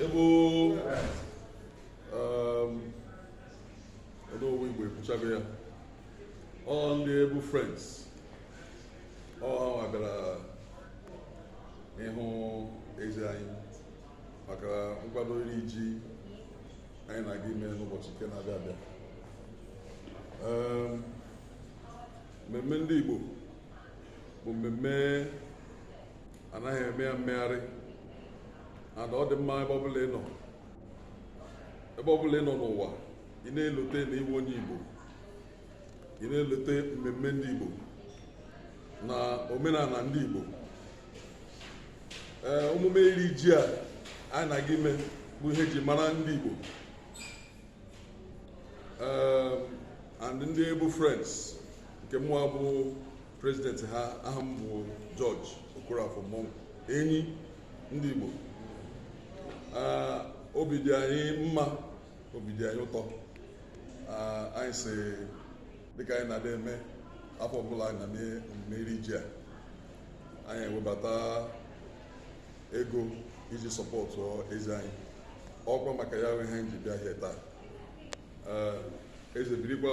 ebe ọdụowe igbo ekwuchago ya ọ ndị Able Friends ọ ha bịara ịhụ eze anyị maka nkwado iri ji anyị na-aga ime n'ụbọchị nke na-abịa abịa mmemme ndị igbo bụ mmemme anaghị eme ya mmegharị and ọ dị mma ebe ọbụla ị nọ ebe ọbụla ị nọ n'ụwa ị na-elote na ị wụ onye Igbo ị na-elote mmemme ndị Igbo na omenala ndị Igbo ee omume iri ji a anyị na-aga ime bụ ihe ji mara ndị Igbo ee and ndị Able Friends nke mụwa bụ president ha aha m bụ George Okorafor Monk enyi ndị Igbo obi dị anyị mma obi dị anyị ụtọ anyị sị dịka anyị na-adị eme afọ ọbụla anyị na-eme omume iri ji a anyị ewebata ego iji sọpọtụ eze anyị ọkwa maka ya wụ ihe anyị ji bịa here taa eze birikwa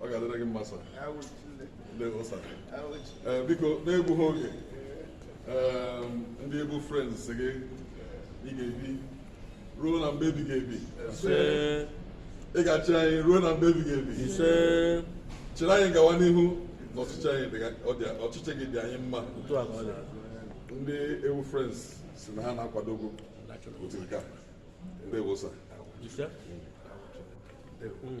ọ ga-adịrị gị mma eh, biko n'egbughị oge eh, ndị Able Friends sị ị ga-ebi ruo na mgbe ebighị ebi ị ga-achị anyị ruo na mgbe ebighị ebi chịrị anyị gawa n'ihu na ọchịchị gị dị anyị mma ndị Able Friends sị na ha na-akwado gị otu nke a ndewo sir Mm.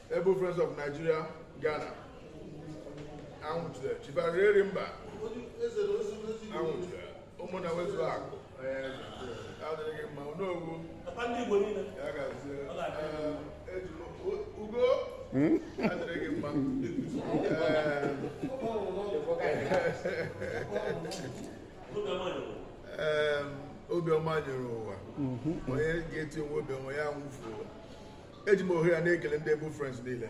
Able Friends of Nigeria Ghana anwụchiri chibarịrị mba anwụchiri ụmụnna nwezuo akụ adịrị mma n'owu ya gazie ugo adịrị mma obiọma nyere ụwa mhm. onye ga-eti onwe obiọma ya nwụfu ụwa eji m ohere a na-ekele ndị Able Friends niile